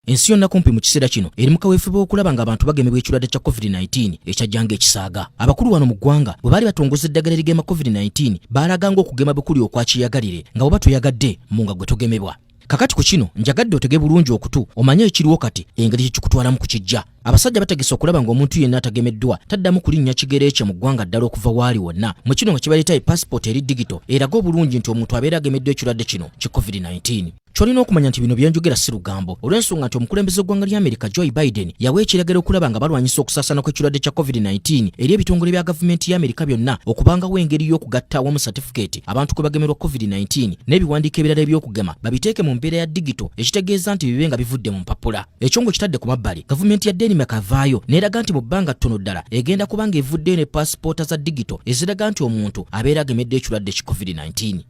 Ensi yonna kumpi mu kiseera kino eri mu kaweefube w'okulaba ng'abantu bagemebwa ekirwadde kya COVID-19 ekyajja ng'ekisaaga. Abakulu wano mu ggwanga bwe baali batongoza eddagala erigema COVID-19 baalaga ng'okugema bukuli okwa kyeyagalire nga bw'oba toyagadde mu nga gwe togemebwa. Kakati ku kino njagadde otege bulungi okutu omanye ekiriwo kati engeri kye kikutwalamu ku kijja. Abasajja bategese okulaba ng'omuntu yenna atagemeddwa taddamu kulinnya kigere kye mu ggwanga ddala okuva waali wonna. Mu kino nga kibaleeta e passport eri digito eraga obulungi nti omuntu abeera agemeddwa ekirwadde kino ki COVID-19. kyolina okumanya nti bino byenjogera si lugambo olw'ensonga nti omukulembeze w'eggwanga lya amerika joe biden yawa ekiragiro okulaba nga balwanyisa okusaasana kw'ekirwadde kya covid-19 eri ebitongole bya gavumenti ya amerika byonna okubangawo engeri y'okugatta awamu satifikeeti abantu kwe bagemerwa covid-19 n'ebiwandiiko ebirala eby'okugema babiteeke mu mbeera ya digito ekitegeeza nti bibe nga bivudde mu mpapula ekyo nga kitadde ku mabbali gavumenti ya denmark avaayo n'eraga nti mu bbanga ttono ddala egenda kuba nga evuddeyo ne paasipoota za digito eziraga nti omuntu abeera agemedde ekirwadde ki covid-19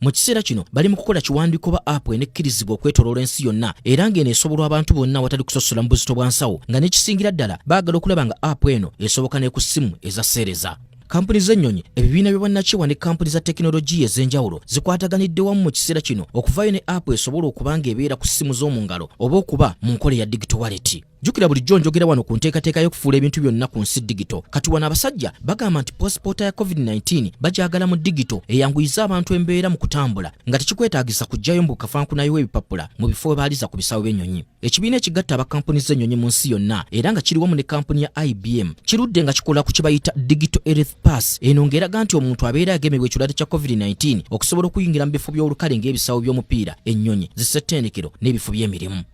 Mu kiseera kino bali mu kukola kiwandiiko ba app enekkirizibwa okwetoloola ensi yonna era ng'eno esobolwa abantu bonna awatali kusosola mu buzito bwa nsawo nga n'ekisingira ddala baagala okulaba nga app eno esoboka ne ku ssimu eza seereza. kampuni z'ennyonyi ebibiina by'obwannakyewa ne kampuni za tekinologiya ez'enjawulo zikwataganidde wamu mu kiseera kino okuvaayo ne app esobola okuba ng'ebeera ku ssimu z'omu ngalo oba okuba mu nkola ya digito waleti jjukira bulijjo njogera wano ku nteekateeka y'okufuula ebintu byonna ku nsi digito kati wano abasajja bagamba nti posipoota ya covid-19 bagyagala mu digito eyanguyiza abantu embeera mu kutambula nga tekikwetaagisa kuggyayo mbu kafankunayo w'ebipapula mu bifo we baaliza ku bisawo by'ennyonyi ekibiina ekigatta abakampuni z'ennyonyi mu nsi yonna era nga kiri wamu ne kampuni ya ibm kirudde nga kikola ku kye bayita digito earth pass eno ng'eraga nti omuntu abeera agemebwa ekirwadde kya covid-19 okusobola okuyingira mu bifo by'olukale ng'ebisawo by'omupiira ennyonyi zisettendekero n'ebifo by'emirimu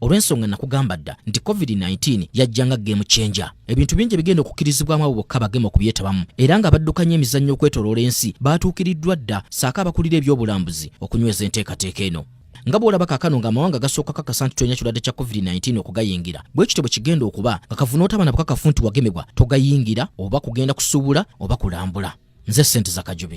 olw'ensonga nakugamba dda nti covid-19 yajja nga game changer ebintu bingi ebigenda okukkirizibwamu abo bokka bagema okubyetabamu era nga baddukanya emizannyo okwetoloola ensi baatuukiriddwa dda saako abakulira ebyobulambuzi okunyweza enteekateeka eno nga bwolaba kakano nga amawanga gasooka kakasa nti tolina kirwadde kya covid-19 okugayingira bwe kityo bwe kigenda okuba nga kavuna otaba na bukakafu nti wagemebwa togayingira oba kugenda kusuubula oba kulambula nze sente zakajubi